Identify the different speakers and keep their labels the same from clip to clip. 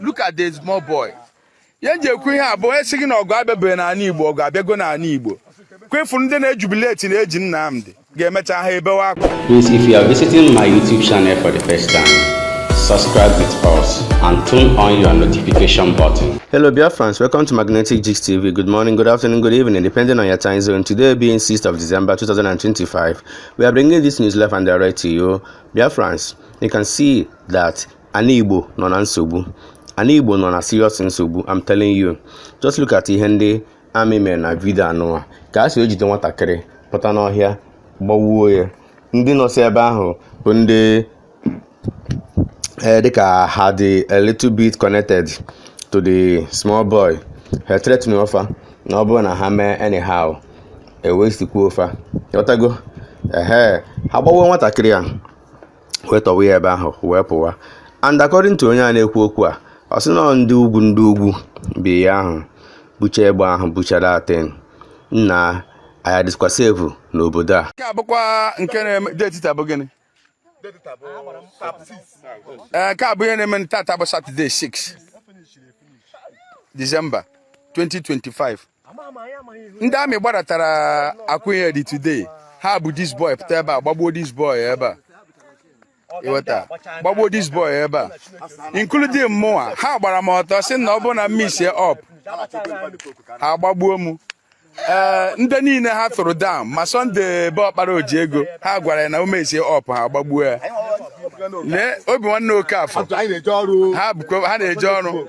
Speaker 1: look at the small boy ihe m ji ekwu ihe a bụ onye sị gị na ọgụ abịabeghị n'ala Igbo ọgụ abịago n'ala Igbo kwa ị fụrụ ndị na-ejubileti na e ji Nnamdi ga-emecha ha ebewe akwa Please if you are visiting my YouTube channel for the first time subscribe with us and turn on your notification button. Hello Biafrans, welcome to Magnetic Gist TV. Good morning, good afternoon, good evening, depending on your time zone. Today being 6th of December 2025, we are bringing this news live and direct to you. Biafrans, you can see that Ana Igbo nọ na nsogbu. Ana Igbo nọ na serious nsogbu, I'm telling you. Just look at ihe ndị amị mere na vidio anụwa ka e si jide nwatakịrị pụta n'ọhịa gbawuo ya. Ndị nọsị ebe ahụ bụ ndị eh, dịka ha dị a little bit connected to the small boy. Ha threatenuo fa na ọ bụrụ na ha mee anyhow e wastekwuo fa. Ị ghọtago? Ehe, ha gbawuo nwatakịrị a. wee tọwa ya ebe ahụ wee pụwa and according to onye a na-ekwu okwu a ọ sị na ọ ndị ugwu ndị ugwu bịa ahụ bucha egbe ahụ buchara atin nna anyị adịkwa sevu n'obodo a nke a bụkwa nke na-eme deti taa bụ gịnị Ee, nke a bụ ihe na-eme tata bụ satọde 6 disemba 2025 ndị amị gbadatara Akwaihedi today ha bu dis boy pụta ebe a gbagbuo dis boy ebe a ị ghọta gbagbuo dis boy ebe a including mụnwa ha gbara m ọtọ sị na ọ bụrụ na m mesie up ha gbagbuo m ee ndị niile ha tụrụ down ma Sọnde be ọkpara oji ego ha gwara ya na o mesie up ha gbagbuo ya lee obi nwanne Okafọ ha na-eje ọrụ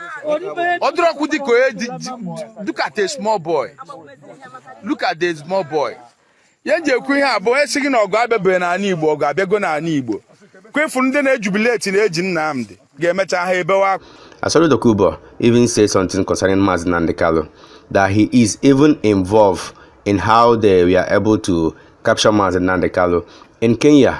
Speaker 1: ọ dịrọkwa dịka onye ji- ji- look at a small boy look at a small boy ihe m ji ekwu ihe a bụ onye sị gị na ọgụ abịabeghị n'ala igbo ọgụ abịago n'ala igbo kwa ị fụrụ ndị na-ejubileti na e ji Nnamdi ga-emecha ha ebewe akwa Asari Dokubo even said something concerning Mazi Nnamdi Kalu that he is even involved in how they were able to capture Mazi Nnamdi Kalu in Kenya.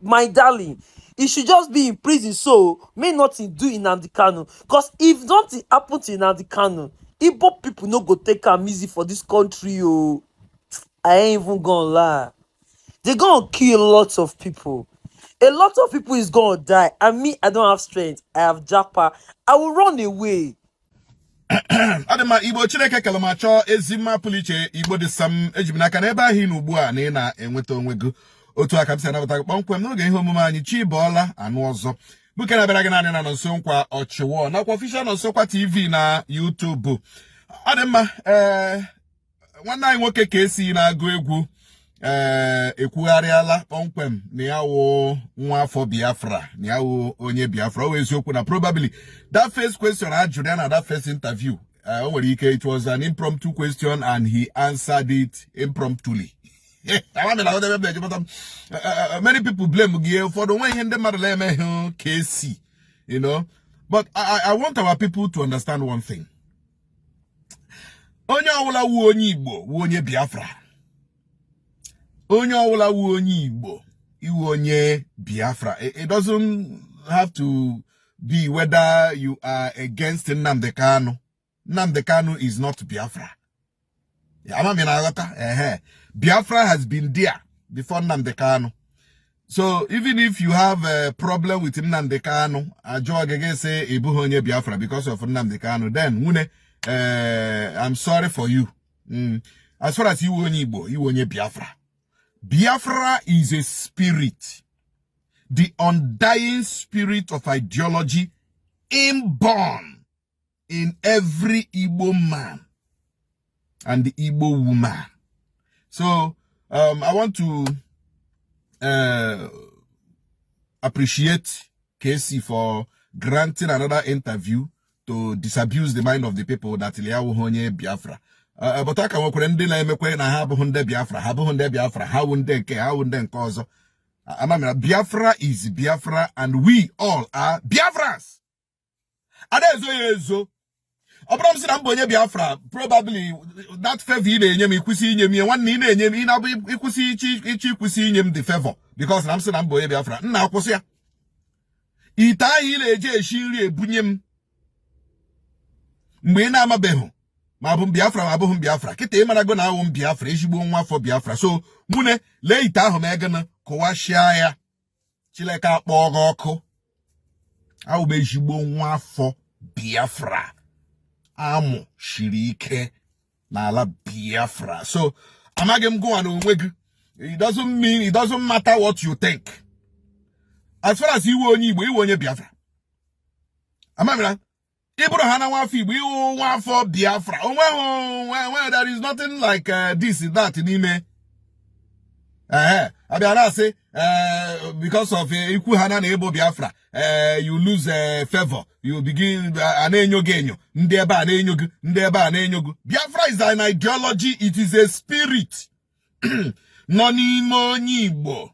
Speaker 1: my darling he should just be in prison so may nothing do in Nnamdi Kanu because if nothing happen to Nnamdi Kanu Igbo people no go take am easy for this country o oh. I ain't even gonna lie they gonna kill lots of people a lot of people is gonna die and me I don't have strength I have japa I will run away ọ dị mma igbo chineke kelu ma chọọ ezi mma pụrụ iche igbo dị sam eji m n'aka na ebe ahụ ị nọ ugbu a na ị na-enweta onwe gị otu a ka m si anabata gị kpọmkwem n'oge ihe omume anyị chi bọọla anụ ọzọ bụ nke na-abịara gị naanị na nọnso nkwa ọchịwọ nakwa ọfishal nọnso nkwa tv na yutubu ọ dị mma ee eh, nwanne anyị nwoke KC na-agụ egwu ee eh, ekwugharịala kpọmkwem na ya wụ nwa afọ biafra na ya wụ onye biafra ọ eziokwu na probably that first question a jụrụ ya na that first interview eh, o nwere ike it was an impromptu question and he answered it impromptuli Eh, eh, eh, many people blame gị ụfọdụ o nweghị ihe ndị mmadụ na-emeghị KC you know but I, I want our people to understand one thing onye ọwụla wụ onye igbo wụ onye biafra onye ọwụla wụ onye igbo ị wụ onye biafra it doesn't have to be whether you are against nnamdi kanu nnamdi kanu is not biafra ama m ị na-aghọta ehe biafra has been there before nnamdi kanu so even if you have a problem with nnamdi kanu a jụọ gị gị sị ị bụghị onye biafra because of nnamdi kanu then nwune eh, i'm sorry for you mm. as far as ị wụ onye igbo ị wụ onye biafra biafra is a spirit the undying spirit of ideology inborn in every Igbo man and Igbo woman. So um, I want to uh, appreciate Kcee for granting another interview to disabuse the mind of the people that la ya awụhọ onye Biafra. Uh, uh, but a ka nwekwara ndị na-emekwa na ha abụghị ndị Biafra ha abụghị ndị Biafra ha wụ ndị nke ha wụ ndị nke ọzọ amamira Biafra is Biafra and we all are Biafras a na-ezo ya ezo ọ bụrụ m sị na m bụ onye biafra probably that favor ị na-enye m ị kwụsị inye m ihe nwanne ị na-enye m ị na-abụ ịkwụsị ichi ị kwụsị inye m the favor because na m sị na m bụ onye biafra m na-akụwasịa ite ahụ ị na-eji esi nri ebunye m mgbe ị na-amabeghị ma abụ m biafra ma abụghị m biafra kịta ị marago na awụ m biafra ezigbo nwa afọ biafra so nwune lee ite ahụ m egana kụwasịa ya chileke akpọ gị ọkụ awụ m ezigbo nwa afọ biafra a mụshiri ike n'ala biafra so amaghị m gịwa n'onwe gị it doesn't mean it doesn't matter what you think as far as ị wụ onye igbo ị wụ onye biafra amamira ị bụrụhana nwafọ igbo ị wụ nwafọ biafra onweghị onweghị there is nothing like uh, this that n'ime ee a bịa na-asị uh, because of uh, i kwuhana na ị bụ biafra you lose favor you begin a na-enyo gị enyo ndị ebe a na-enyo gị ndị ebe a na-enyo gị biafra is an ideology it is a spirit nọ n'ime onye igbo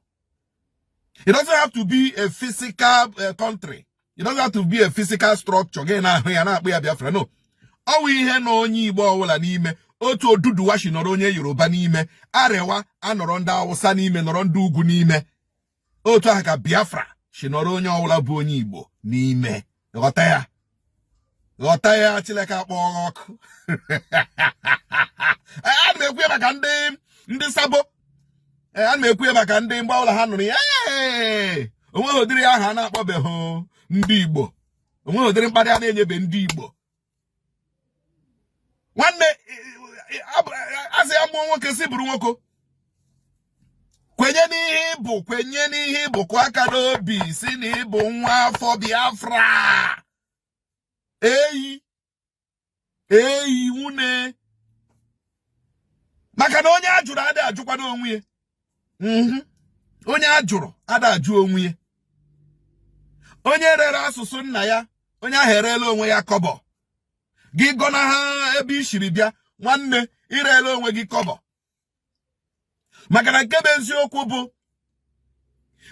Speaker 1: it doesn't have to be a physical eh, country it doesn't have to be a physical structure gị na-ahụ ya na-akpọ ya Biafra no ọ wụ ihe nọ onye Igbo ọbụla n'ime otu Oduduwa si nọrọ onye Yoruba n'ime Arewa anọrọ ndị Awụsa n'ime nọrọ ndị ugwu n'ime otu ahụ ka Biafra si nọrọ onye ọbụla bụ onye Igbo n'ime ghọta ya ghọta ya Chineke akpọ ha ọkụ ana m ekwu ya maka ndị ndị sabo ana m ekwu ya maka ndị mgbe ọbụla ha nụrụ ya onweghị ụdịrị aha a na-akpọbeghị ndị Igbo onweghị ụdịrị mkparị a na-enyebe ndị Igbo nwanne asị ya mụọ nwoke si bụrụ nwoke kwenye n'ihe ị bụ kwenye n'ihe ị bụ kụọ aka n'obi sị na ị bụ nwa afọ Biafra eyi eyi nwune maka na onye a jụrụ adịghị ajụkwanụ onwe ya mhm. onye a jụrụ ada ajụ onwe ya onye rere asụsụ nna ya onye ahụ ereela onwe ya kọbọ gị gọnaha ebe i siri bịa nwanne i reela onwe gị kọbọ maka na nke bụ eziokwu bụ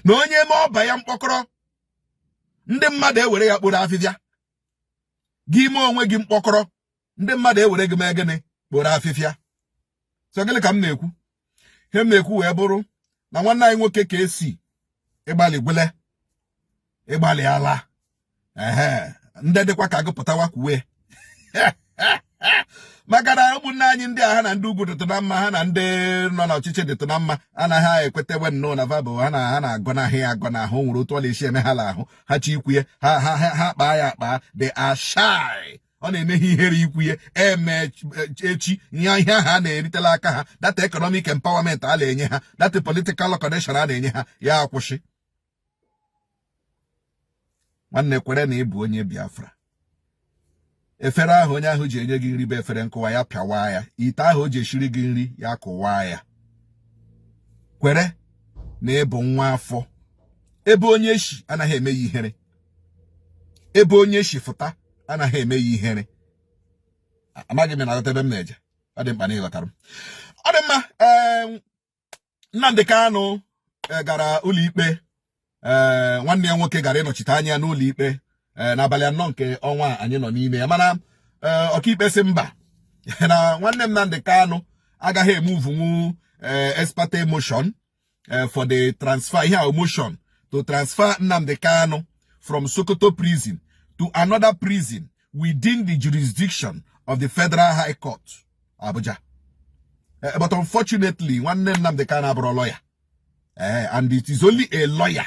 Speaker 1: na onye mee ọba ya mkpọkọrọ ndị mmadụ ewere ya kporo afịfịa gị mee onwe gị mkpọkọrọ ndị mmadụ ewere gị mee gịnị kporo afịfịa so gịnị ka m na-ekwu ihe m na-ekwu wee bụrụ na nwanne anyị nwoke Kcee ị gbalịgwala ị gbalịala ehe ndị dịkwa ka gị pụtawa kwuwe maka na ụmụnne anyị ndị a ha na ndị ugwu dịtụ na mma ha na ndị nọ n'ọchịchị dịtụ na mma anaghị ekwetewe nnọọ na ha bụ ha na ha na-agọnahụ ya agọnahụ nwere otu ọ na-esi eme ha n'ahụ ha chọọ ikwu ya ha ha ha kpaa ya akpaa dị ashai ọ na-eme ha ihere ikwu ihe e mee echi ihe ihe ha na-erite n'aka ha that economic empowerment a na-enye ha that political connection a na-enye ha ya akwụsị nwanne kwere na ị bụ onye Biafra efere ahụ onye ahụ ji enye gị nri bụ efere nkụwa ya pịawa ya ite ahụ o ji eshiri gị nri ya kụwa ya kwere na ị bụ nwa afọ ebe onye eshi anaghị eme ya ihere ebe onye si fụta anaghị eme ya ihere amaghị m na-aghọta ebe m na-eje ọ dị mkpa na ị ghọtara m ọ dị mma Nnamdi Kanu e, gara ụlọikpe e, nwanne ya nwoke gara ịnọchite anya n'ụlọikpe e, n'abalị anọ nke ọnwa anyị nọ n'ime ya mana ọkaikpe si mba na nwanne Nnamdi Kanu agaghị emovenwu ex parte motion eh, for the transfer ihe a motion to transfer Nnamdi Kanu from Sokoto prison to another prison within the jurisdiction of the Federal High Court Abuja eh, but unfortunately nwanne Nnamdi Kanu abụrụ lawyer eh, and it is only a lawyer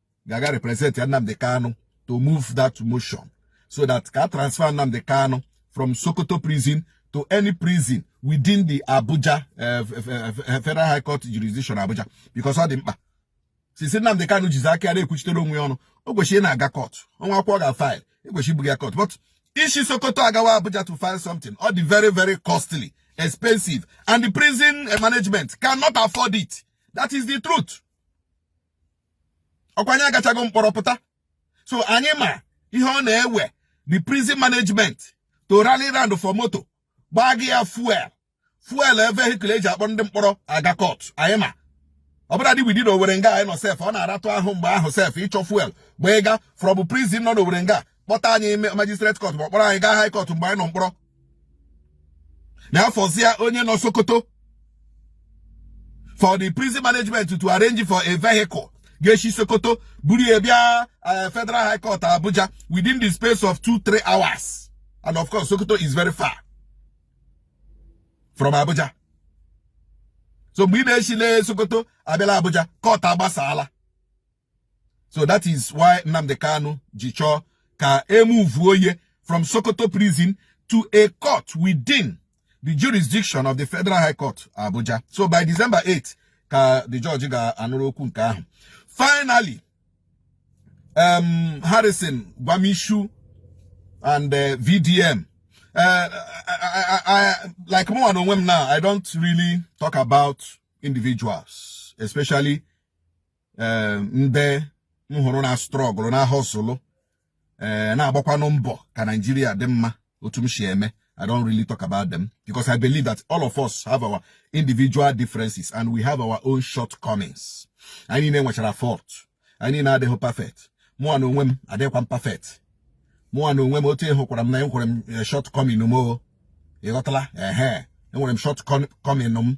Speaker 1: ga-aga represent ya Nnamdi Kanu to move that motion so that ka a transfer Nnamdi Kanu from Sokoto prison to any prison within the Abuja uh, Federal High Court jurisdiction Abuja because ọ dị mkpa since Nnamdi Kanu jizi aka ya na-ekwuchitere onwe ya ọnụ o kwesịrị ịna-aga court o nwee akwụkwọ ọ ga file e kwesịrị ibu ya court but isi Sokoto agawa Abuja to file something ọ dị very very costly expensive and the prison management cannot afford it that is the truth ọkwa anyị agachago mkpọrọ pụta so anyị ma ihe ọ na-ewe the prison management to rally round for moto gbajie ya fuel fuel vehicle e ji akpọrọ ndị mkpọrọ aga court anyị ma ọ bụladị within Owere nga anyị nọ sef ọ na-aratụ ahụ mgbe ahụ sef ịchọ fuel gbaa ịga from prison nọ na Owere nga kpọta anyị ime magistrate court ma ọ kpọrọ anyị gaa high court mgbe anyị nọ mkpọrọ na afọzia onye nọ sokoto for the prison management to arrange for a vehicle ga-esi sokoto buru ya bịa eh, federal high court abuja within the space of two three hours and of course sokoto is very far from abuja so mgbe ị na-esi na sokoto abịala abuja court agbasala so that is why Nnamdi Kanu ji chọọ ka e muvuo ya from Sokoto prison to a court within the jurisdiction of the Federal High Court Abuja so by December 8 ka the judge ga-anụrụ okwu nke ahụ finally um, Harrison Gwamnishu and uh, VDM uh, I, I, I, like mụa na onwe m na I don't really talk about individuals especially eh, ndị m hụrụ na-astrọgụlụ na-ahọsụlụ ee eh, na-agbakwanụ mbọ ka Naijiria dị mma otu m si eme I don't really talk about them because I believe that all of us have our individual differences and we have our own shortcomings. Anyị niile nwechara fault. Anyị niile adịghị perfect. Mụa na onwe m adịghịkwa m perfect. Mụa na onwe m otu ị hụkwara m na enwere m eh, shortcoming m o. Ị ghọtala? Ehe. Enwere m shortcoming m.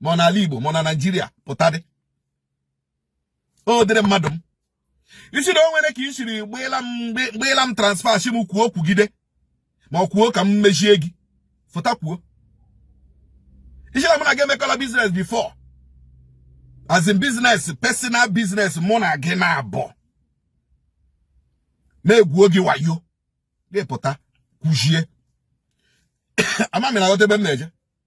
Speaker 1: ma ọ n'ala Igbo ma ọ na Naịjirịa pụtadị ọ dịrị mmadụ m ị sị na o nwere ka i siri gbaala m transfer sị m kwuo kwugide ma ọ kwuo ka m mechie gị fụta kwuo ị sị na mụ na gị emekọla business before as in business personal business mụ na gị na abụọ m egwuo gị wayo gị pụta kwuchie ama m ị na-aghọta ebe m na-eje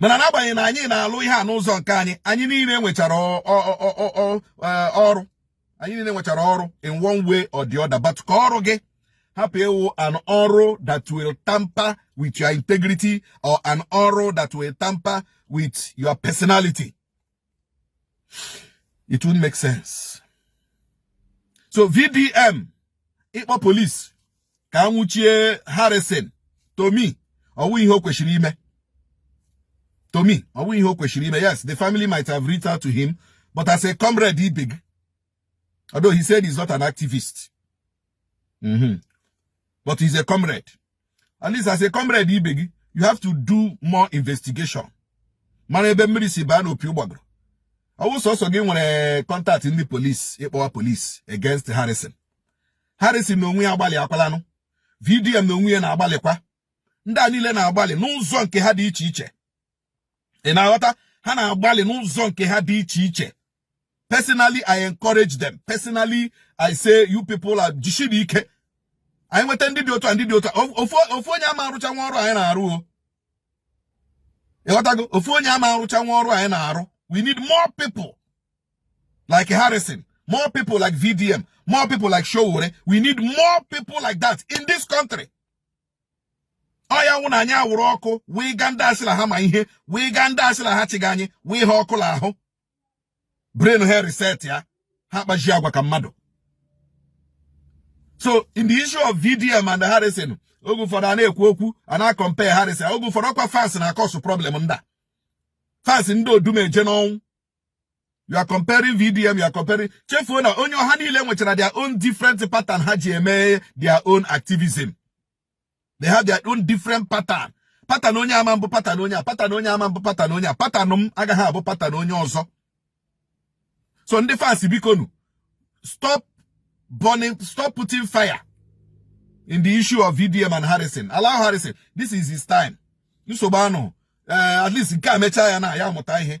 Speaker 1: mana n'agbanyeghị na anyị na-alụ ihe a n'ụzọ nke anyị anyị niile nwechara ọrụ anyị niile nwechara ọrụ in one way or the other but ka ọrụ gị hapụ ịwụ an ọrụ that will tamper with your integrity or an ọrụ that will tamper with your personality it won't make sense so vdm ịkpọ police ka a nwụchie harrison to me ọ wụ ihe o kwesịrị ime to me ọ wụ ihe o kwesịrị ime yes the family might have reached out to him but as a comrade ibe gị although he said he's not an activist mm -hmm. but he's a comrade at least as a comrade ibe gị you have to do more investigation mara ebe mmiri si baa n'opi ụgbọgụrụ ọ wụ sọsọ gị nwere contact ndị police ịkpọwa police against Harrison Harrison na onwe ya agbalịakwalanụ VDM na onwe ya na-agbalịkwa ndị a niile na-agbalị n'ụzọ nke ha dị iche iche ị na-aghọta ha na-agbalị n'ụzọ nke ha dị iche iche personally i encourage them personally i say you people are jisiri ike anyị nweta ndị dị otu a ndị dị otu a ofu onye ama arụchanwu ọrụ anyị na-arụ o ị ghọtago ofu onye ama arụchanwu ọrụ anyị na-arụ we need more people like Harrison more people like VDM more people like Sowore we need more people like that in this country ọya nwụ na anyị awụrụ ọkụ wee ga ndị a sị la ha ma ihe wee ga ndị a sị la ha chịga anyị wee ha ọkụ la ahụ brain ha reset ya ha kpazie agwa ka mmadụ so in the issue of VDM and Harrison oge ụfọdụ a na-ekwu okwu a na-akọmpe Harrison oge ụfọdụ ọkwa fans na-akọsụ problem nda fans ndị Odumeje n'ọnwụ you are comparing VDM you are comparing chefuo na onye ọ ha niile nwechara their own different pattern ha ji eme their own activism they have their own different pattern pattern onye a ama abụ pattern onye a pattern onye a ama abụ pattern onye a pattern m agaghị abụ pattern onye ọzọ so ndị fans bikonu stop burning stop putting fire in the issue of VDM and Harrison allow Harrison this is his time nsogbu anụ eh, at least nke a mechaa ya na ya amụta ihe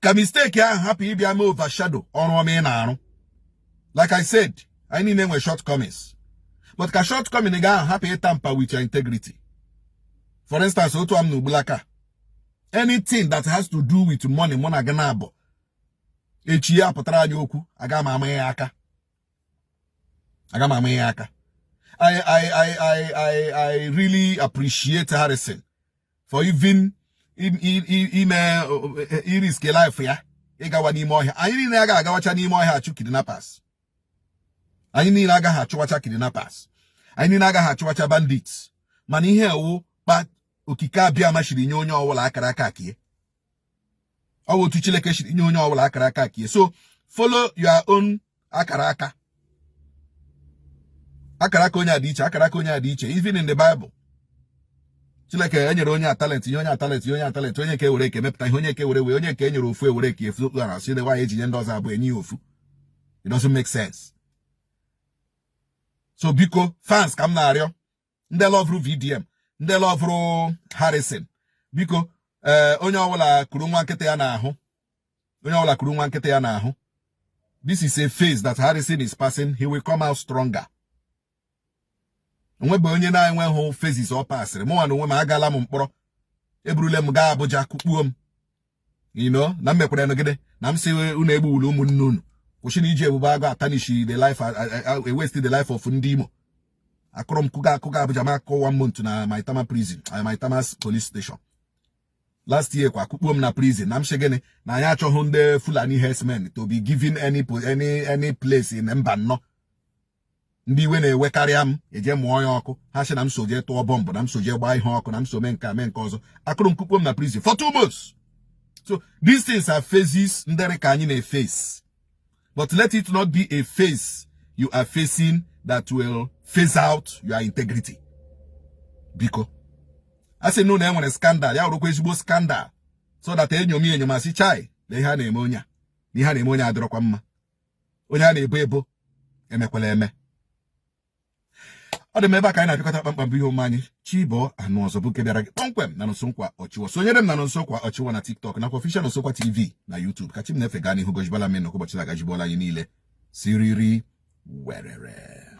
Speaker 1: ka misteki ahụ hapụ ịbịa mee overshadow ọrụ ọma ị na-arụ like I said anyị niile nwere shortcomings but ka shortcoming gị ahụ hapụ ịtampa with your integrity for instance otu a m nọ ugbulaka anything that has to do with money mụ na gị naabọ echi ya apụtara anyị okwu aga m ama ya aka aga m ama ya aka I, I, I, I, I, I really appreciate Harrison for even ime irisk life ya ịgawa n'ime ọhịa anyị niile agaghị agawacha n'ime ọhịa achụ kidnappers anyị niile agaghị achụwacha kidnappers anyị niile agaghị achụwacha bandits mana ihe ọ wụ kpa Okike Abịama siri nye onye ọbụla akara aka ke ya ọ bụ otu Chineke siri nye onye ọbụla akara aka ke ya so follow your own akara aka akara aka onye a dị iche akara aka onye a dị iche even in the Bible Chineke enyere onye a talent nye onye a talent nye onye a talent onye nke were ke ya mepụta ihe onye nke were wee onye nke enyere ofu ewere eke efu okpukpe na-asị nwaanyị e ji nye ndị ọzọ abụọ enye ya ofu it doesn't make sense so biko fans ka m na-arịọ ndị lọvụrụ VDM ndị lọvụrụ Harrison biko ee eh, onye ọbụla kuru nwa nkịta ya n'ahụ onye ọbụla kuru nwa nkịta ya n'ahụ this is a phase that Harrison is passing he will come out stronger o nwebe onye na-enweghị phases ọ pasịrị mụnwa na onwe m agala m mkpọrọ eburule m gaa Abuja kukpuo m ino na m mekwaranụ gịnị na m si unu egbuwula ụmụnne unu kwụsịnụ iji Ebube Agụ atanishi the life e-waste the life of ndị Imo a kụrụ m kụga akụga Abuja ma akụkọ one month na Maitama prison eh, Maitama police station last year kwa kukpuo m na prison na m sị gịnị na anyị achọghị ndị Fulani herdsmen to be given any any any place in Mbano ndị iwe na-ewekarịa m eje mụọ ya ọkụ ha sị na m so jee tụọ bọmbụ na m so jee gbaa ihe ọkụ na m so mee nke a mee nke ọzọ a kụrụ m kukpo m na prison for two months so these things are phases ndị dị ka anyị na-efesi but let it not be a phase you are facing that will phase out your integrity biko a sị na ụlọ e nwere scandal ya wụrụkwa ezigbo scandal so that enyomi enyoma sị chai na ihe a na-eme onye a na ihe a na-eme onye adịrọkwa mma onye a na-ebo ebo emekwala eme ọ dị m ebe a ka anyị na-apịakọta kpamkpam bụ ihe omume anyị chi bọọ anụ ọzọ bụ nke bịara gị kpọmkwem na Nonso Nkwa Ochiwar sonyere m na Nonso Nkwa Ochiwar na TikTok nakwa Official Nonso Nkwa TV na YouTube ka chi m na-efe gaa n'ihu gọzibala m unu ụbọchị agazibala anyị niile siriri werere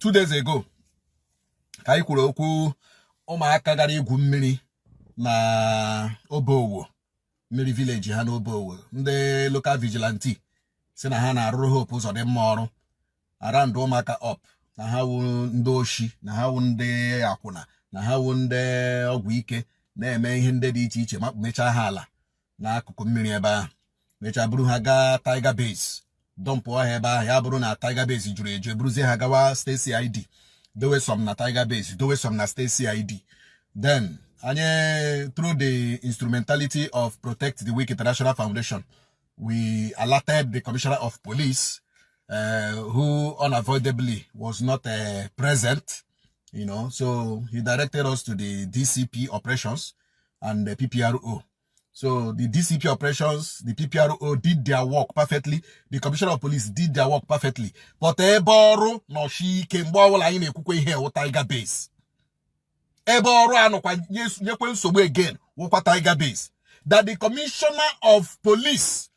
Speaker 1: two days ago ka anyị kwuru okwu ụmụaka gara igwu mmiri na Obowo mmiri village ha n'Obowo ndị local vigilante sị na ha na-arụrụ Hope Uzodinma ọrụ a-round ụmụaka up na ha wu ndị oshi na ha wu ndị akwụna na ha wu ndị ọgwụ ike na-eme ihe ndị dị iche iche ma mechaa ha ala n'akụkụ mmiri ebe ahụ mechaa buru ha gaa Tiger Base dọmpụọ ha ebe ahụ ya bụrụ na Tiger Base jụrụ eju eburuzie ha gawa State CID dowe some na Tiger Base dowe some na State CID then anyị through the instrumentality of Protect the Weak International Foundation we alerted the Commissioner of Police uh, who unavoidably was not uh, present you know so he directed us to the DCP operations and the PPRO. So the DCP operations, the PPRO did their work perfectly. The Commissioner of Police did their work perfectly. But ebe ọrụ nọ shie ike mgbe ọbụla anyị na-ekwukwe ihe wụ Tiger Base. Ebe ọrụ a nọkwa nyekwe nsogbu again wụkwa Tiger Base. That the Commissioner of Police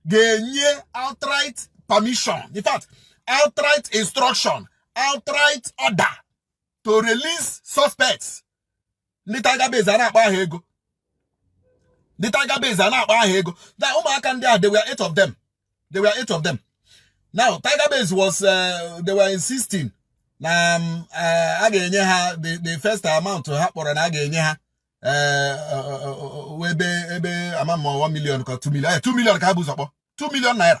Speaker 1: ga-enye outright permission. In fact, outright instruction, outright order to release suspects ndị Tiger Base a na-akpa aha ego ndị Tiger Base a na-akpa aha ego na ụmụaka ndị a they were eight of them they were eight of them now Tiger Base was uh, they were insisting na um, uh, a ga-enye ha the first amount ha kpọrọ na a ga-enye ha uh, ebe ebe ama ma 1 million ka 2 million 2 eh, million ka ha bu ụzọ kpọọ 2 million naira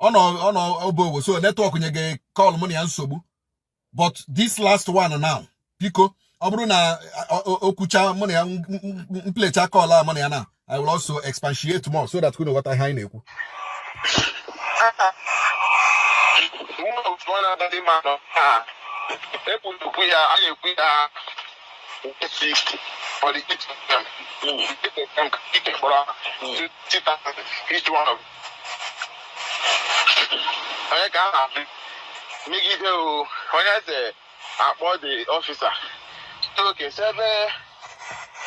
Speaker 1: ọ nọ ọ nọ Obowo so network nyega call mụ na ya nsogbu but this last one now biko ọ bụrụ na o kwucha mụ na ya m plecha call a mụ na ya na I will also expatiate more so that unu ghọta ihe anyị na-ekwu ekwutukwu ya a na-ekwu ya for the each of them. Mm. Each of them, each of them, each one of them. onye ka a na-asị megide o onye eze akpọ the officer okay sị ebe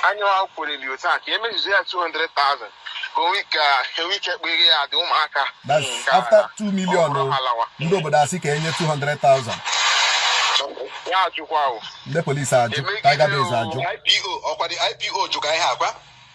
Speaker 1: anyanwụ akwụreli otu a ka emezuzo ya 200,000 ka onwe ike enwe ike kpere ya dị ụmụaka that's Ka after 2 million ọ bụrụ o, halawa. ndị obodo asị ka e nye 200,000 ya ajụkwa o ndị polisi ajụ tiger base ajụ IPO ọkwa the IPO jụ ka ihe akwa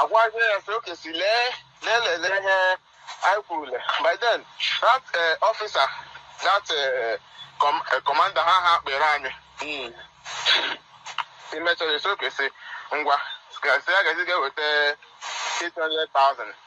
Speaker 1: agwazie ya sị okay sị lee lee lele ihe anyị kwurule by then that eh, officer that eh, com- eh, commander ha ha kpere anyị Mm. e mechara sị okay sị ngwa gasị ya gazi ga-eweta 800,000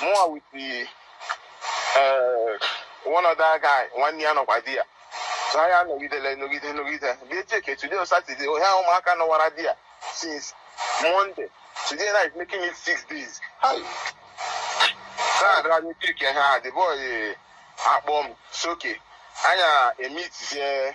Speaker 1: mụnwa with the eh, one other guy nwanne ya nọkwa there so anyị anọgidele nọgide nọgide bịa cheke today on Saturday onye ahụ ụmụaka nọwara there since Monday today night making it six days Hi. na-adịra anyị cheke ha the boy eh, akpọ m sị okay anyị emitizie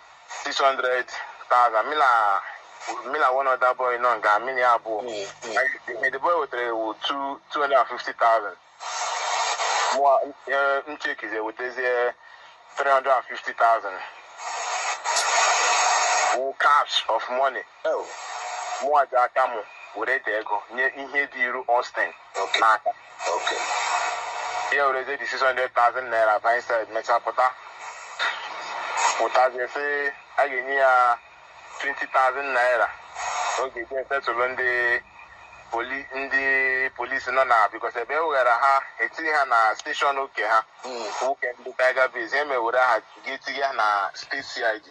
Speaker 1: 600,000 mụ na mụ na one other boy nọ nga mụ na ya abụọ the boy wetara ihe wụ 250,000 mụwa m chekize wetazie 350,000 wụ cash of money Ew, mụnwa ji aka m were the ego nye ihe dị iru Austin Okay. n'aka Okay. ya wereze the 600,000 naira baa inside mechaa pụta pụtazie sị a ga-enye ya 20,000 naira ọ ga-eji setụlụ ndị poli ndị polisi nọ na because ebe e weghara ha etihi ha na station oke ha Mm. nke ndị tiger base e mewere ha ga-etinye ha na state CID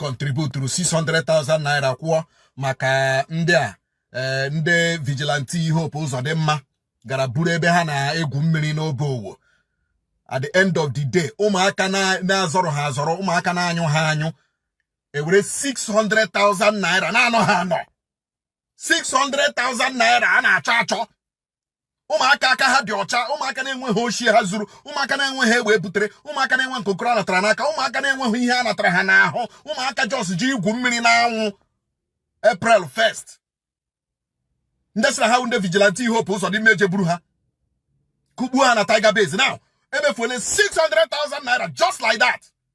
Speaker 1: kọntributuru 600,000 naira kwụọ maka ndị a eh, ndị vigilante Hope Uzodimma gara buru ebe ha na-egwu mmiri n'Obowo at the end of the day ụmụaka na-azọrọ ha azọrọ ụmụaka na-anyụ ha anyụ ewere 600,000 naira na-anọ ha anọ 600,000 naira a na-achọ achọ ụmụaka aka ha dị ọcha ụmụaka na-enweghị oshi ha zuru ụmụaka na-enweghị egbe e butere ụmụaka na-enwe nkokoro a natara n'aka ụmụaka na-enweghị ihe a natara ha n'ahụ ụmụaka just je igwu mmiri n'anwụ April 1st ndị sịrị ha wụ ndị vigilante Hope Ụzọdịmma eje buru ha kụgbuo ha na tiger base now emefuole 600,000 naira just like that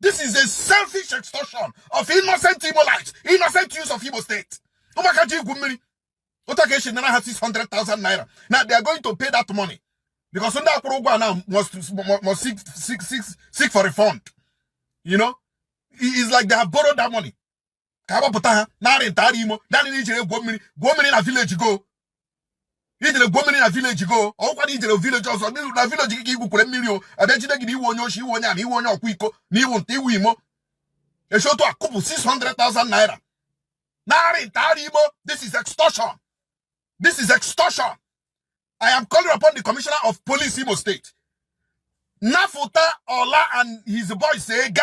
Speaker 1: This is a selfish extortion of innocent Igbo lives, innocent use of Igbo state. Ụmụaka ji igwu mmiri. Otu aka esi nara ha 600,000 naira. Now they are going to pay that money. Because ndị akwụrụ ụgwọ now must, must seek, seek, seek, seek for refund. You know? It's like they have borrowed that money. ka a gbapụta ha nara nta nara imo naanị na i jere gwuo mmiri gwuo mmiri na village gị o i jere gwuo mmiri na village gị o ọ kwa na i jere village ọzọ na village gị ka i gwukwara mmiri o a bịa jide gị na ị wụ onye oshi ị wụ onye ama ị wụ onye ọkwa iko na ị wụ nta ị wụ imo e si otu a kụpụ 600,000 naira nara nta nara imo this is extortion this is extortion I am calling upon the commissioner of police Imo State. Nafuta Ola and his boys say, Ga,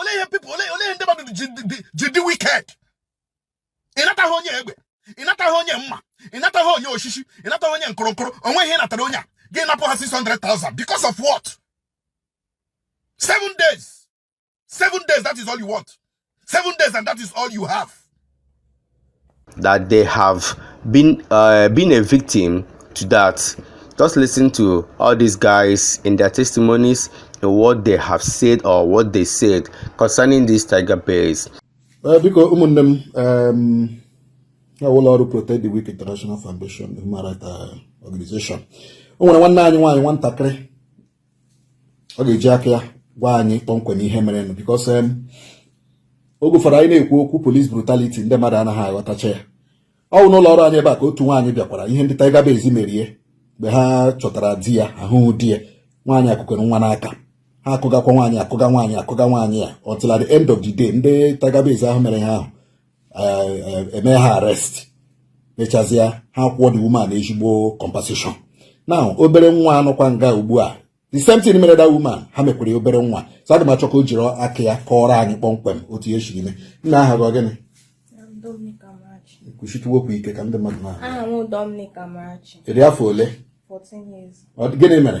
Speaker 1: olee ihe people olee ihe ndị mmadụ ji dị wicked ị nataghị onye egbe ị nataghị onye mma ị nataghị onye osisi ị nataghị onye nkụrụnkụrụ o nweghị ihe ị natara onye a gị anapụ ha 600,000 because of what seven days seven days that is all you want seven days and that is all you have that they have been uh, been a victim to that just listen to all these guys in their testimonies and what they have said or what they said concerning these tiger bears uh, biko ụmụnne m um, ụlọ ọrụ protect the weak international foundation human rights uh, organization o nwere nwanne anyị nwaanyị nwatakịrị ọ ga-eji aka ya gwa anyị kpọmkwem ihe merenụ because um, oge ụfọdụ anyị na-ekwu okwu police brutality ndị mmadụ anaghị aghọtacha ya ọ bụ n'ụlọ ọrụ anyị ebe a ka otu nwaanyị bịakwara ihe ndị Tiger Base mere ya mgbe ha chọtara di ya ahụghị di ya nwaanyị a kukwara nwa n'aka ha akụgakwa nwaanyị a kụga nwaanyị a kụga nwaanyị a until at the end of the day ndị Tiger Base ahụ mere ihe ahụ e mee ha arrest mechazịa ha kwụọ the woman ezigbo compensation na obere nwa a nọkwa nga ugbu a the same thing mere that woman ha mekwara ya obere nwa so aga m achọ ka o jiri aka ya kọọrọ anyị kpọmkwem otu ya siri mee nna aha gị gịnị kwusie okwu ike ka ndị mmadụ nụ aha ị dị afọ ole gịnị mere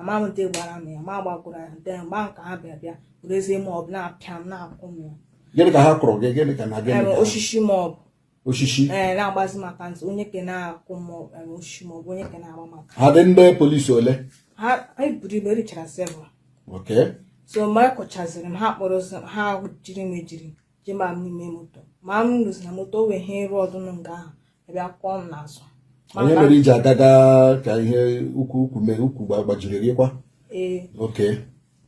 Speaker 1: ama m ntị gbara m ya ma gbakwuru ya ntị mgbe nke ha bịa bịa bụrụ ezi ma ọ bụ na-apịa m na-akụ m ya gịnị ka ha kụrụ gị gịnị ka na gịnị osisi ma ọ bụ osisi ee eh, na-agbazi m aka ntị onye ke na-akụ m osisi ma ọ bụ onye ke na-agba m aka ha dị ndị polisi ole ha anyị buru ibu richara several okay so mgbe a kụchaziri m ha kpọrọ ha jiri m ejiri je ma m n'ime moto ma m lụzi na moto o wee ihe ịrụ ọdụ m nga ahụ a bịa kụọ m n'azụ Ma onye mba- mere i ji agaga ka ihe ụkwụ ụkwụ mee ụkwụ gba- gbajiri gị kwa ee oke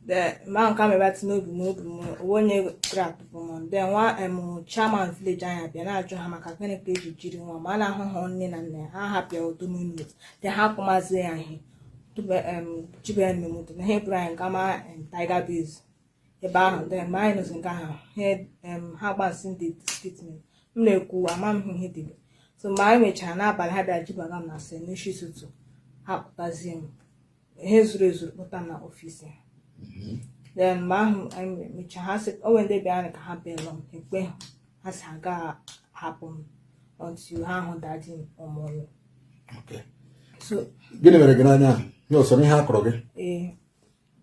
Speaker 1: de ma nke a mebati n'obi m obi m o nweghị onye gara atụpụ m de nwa em chairman village anyị abịa na-ajụ ha maka gịnị ka e ji jiri nwa ma a na-ahụ ha nne na nna ya ha hapịa otu minit de ha kpụmazie ya ihe tube em jibe ya n'ime moto na ha eburu anyị gama em tiger base ebe ahụ mgbe anyị nụzi nke ahụ ha gbasi ndị statement m na-ekwu ama m ihe dịbe so mgbe anyị mechara n'abalị ha bịara jibaga m na cell n'isi ụtụtụ ha pụtazie m ihe zuru ezu kpụta na ọfịs ha mm-hmm. then mgbe ahụ anyị mechaa ha sị o nwe ndị bịara ka ha belụọ m ekpe ha sị agaghị ahapụ m until ha hụ dadi m ọmụrụ gịnị mere gị n'anya ahụ ihe o so ihe a kụrụ gị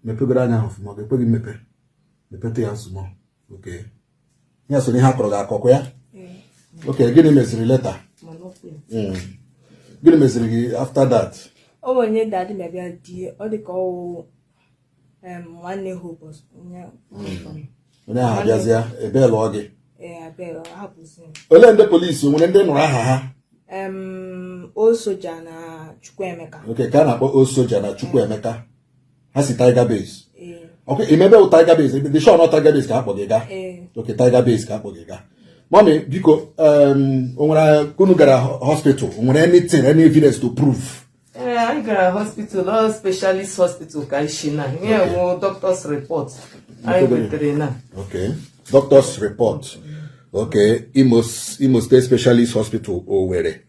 Speaker 1: mepegoro anya ahụ ọfụma ga ekweghị mmepe mepetụ ya small okay ya so n'ihe a kụrụ gị akụkụ ya okay gịnị meziri later hmm. gịnị meziri gị after that o nwere onye dadị mebịa di ọ dị ka ọ wụ nwanne ha ụbọchị onye hmm. ahụ a bịazie belụọ gị olee ndị polisi o nwere ndị ị nụrụ aha ha osoja na chukwuemeka okay ka a na-akpọ osoja na chukwuemeka ha si Tiger Base ọ kwa ị ma ebe wụ Tiger Base ebe ị dị sure na Tiger Base ka a kpọ gị gaa okay Tiger Base ka a kpọ gị gaa mommy biko o nwere unu gara hospital o nwere anything any evidence to prove anyị gara hospital ọ specialist hospital ka ị sị na ihe a wụ doctor's report anyị wetere na okay doctor's report okay Imo State Specialist Hospital Owerri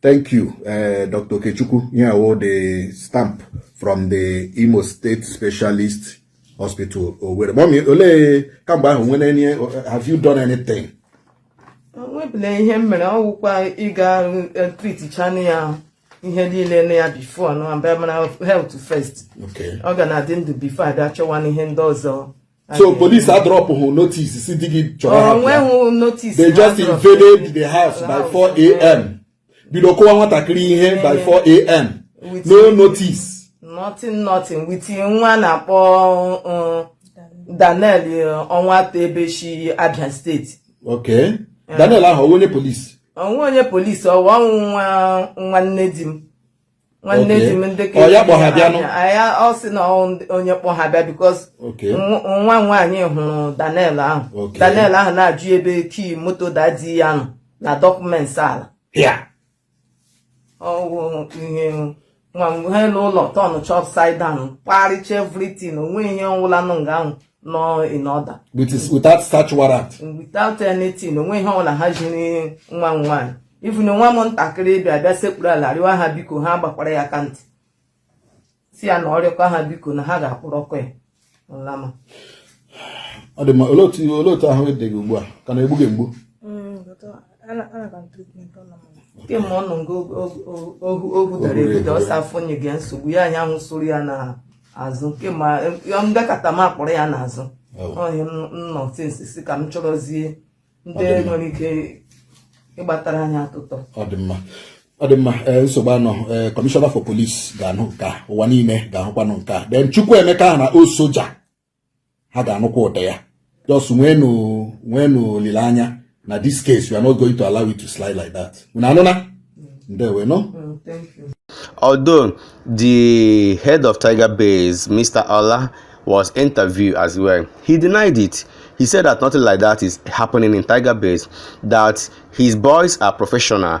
Speaker 1: Thank you, uh, Dr. Okechukwu. Ihe a wụ the stamp from the Imo State Specialist Hospital Owerri. Mommy, olee kamgbe ahụ o nwere any have you done anything? O nwebele ihe m mere ọ wụkwa ịga eh, triticha ya ihe niile na ya before na mara health first. Okay. Ọ ga na-adị ndụ before a bịa chọwanụ ihe ndị ọzọ. so police adropụghị notice si di gị chọrọ ha bịa they just invaded the house by 4 am bido kụwa nwatakịrị ihe by 4 am no notice nothing nothing with nwa a na-akpọ uh, Daniel uh, ọ nwata ebe o shi Abia State okay Daniel ahụ ọ wụ onye polisi ọ wụghị onye polisi ọ wụ ọ wụ nwa nwanne di m nwanne di m ndị ọ ya kpọ ha bịa ya ọ sị na onye kpọ ha bịa because nwa m nwaanyị hụrụ Daniel ahụ Daniel ahụ na-ajụ ya ebe key moto dadi ya nọ na dọkụmenti ala ọ wụ ihe nwa mgbe ha n'ụlọ turnchaa upside down kparịcha everything o nweghị ihe ọwụla nọ nga ahụ nọ in order without search warrant without anything o nweghị ihe ọwụla ha ji nwa m nwaanyị even nwa m ntakịrị bịa bịa sekpuru ala rịọwa ha biko ha gbakwara ya aka ntị sị ya na ọ rịọkọ ha biko na ha ga-akwụrụ ọkụ ya nlama ọ dị mma olee otu ahụ dị gị ugbu a ọ ka na-egbu gị mgbu mm, kemgbe ọ nọ ngo ohu dara ebido ọsọ afọ nye gị nsogbu ya anya ahụ soro ya na azụ nke ma ngakọta m akpọrọ ya n'azụ onye m nọ tinsi si ka m chọrọzie ndị nwere ike ịgbatara anyị atụtọ ọ dị mma ọ dị mma eh, nsogbu anọ eh, commissioner for police ga-anụ nke a ụwa niile ga-ahụkwanụ nke a then Chukwuemeka na Osoja ha ga-anụkwa ụda ya just nwenu nwenu olileanya na this case we are not going to allow it to slide like that unu anụna ndewe no mm, although the head of tiger base mr ola was interviewed as well he denied it He said that nothing like that is happening in Tiger Base, that his boys are professional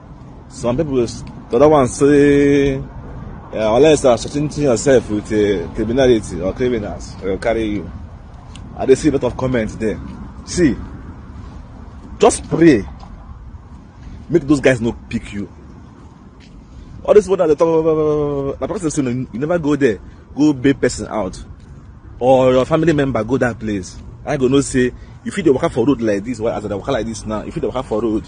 Speaker 1: Some people, the other one say, uh, unless you're associating yourself with uh, criminality or criminals, they'll carry you. I just see a lot of comments there. See, just pray. Make those guys not pick you. All this one at the top, my person say, you never go there. Go be person out. Or your family member go that place. I go no say, you fit dey waka for road like this, why as I dey waka like this now, you fit dey waka for road.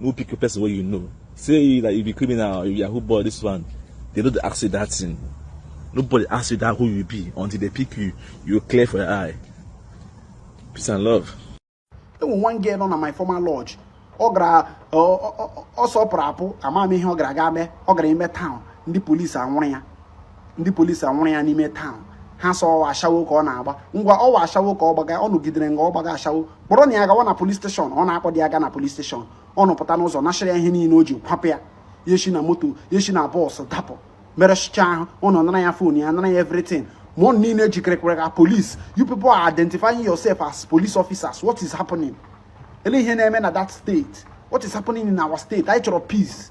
Speaker 1: no pick a person wey you know say you like you be criminal or you yahoo boy this one they no dey ask you that thing nobody ask you that who you be until they pick you you clear for your eye peace and love. enwe one girl nọ na my former lodge ọ gara ọ sọpụrụ apụ ama m ihe ọ gara ga mee ọ gara ime town ndị polisi anwụrụ ya ndị polisi anwụrụ ya n'ime town ha sị ọ wụ ashawo ka ọ na-agba ngwa ọ wụ ashawo ka ọ gbaga ụnụ jidere nga ọ gbaga ashawo kpọrọ na ya gawa na police station ụnụ akpọdị ya ga na police station ụnụ pụta n'ụzọ nashịrị ya ihe niile o ji kwapụ ya ya shi na moto ya shi na bọọsụ dapụ merụchaa ahụ ụnụ nara ya fon ya nara ya everything ma ụnụ niile jikere ka police you people are identifying yourself as police officers what is happening ele ihe na-eme na that state what is happening in our state anyị chọrọ peace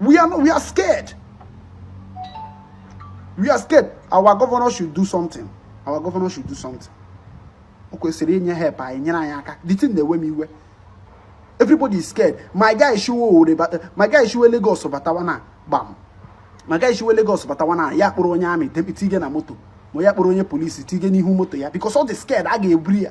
Speaker 1: We are not, we are scared. We are scared. Our governor should do something. Our governor should do something. O kwesịrị inye help anyị nyere anyị aka. The thing na-ewe m iwe. Everybody is scared. My guy shiwe Owerri bata, my guy shiwe Lagos batawa na gbam. My guy shiwe Lagos batawa na ya kpụrụ onye army tige na moto ma ya kpụrụ onye polisi tige n'ihu moto ya because ọ dị scared a ga-eburu ya.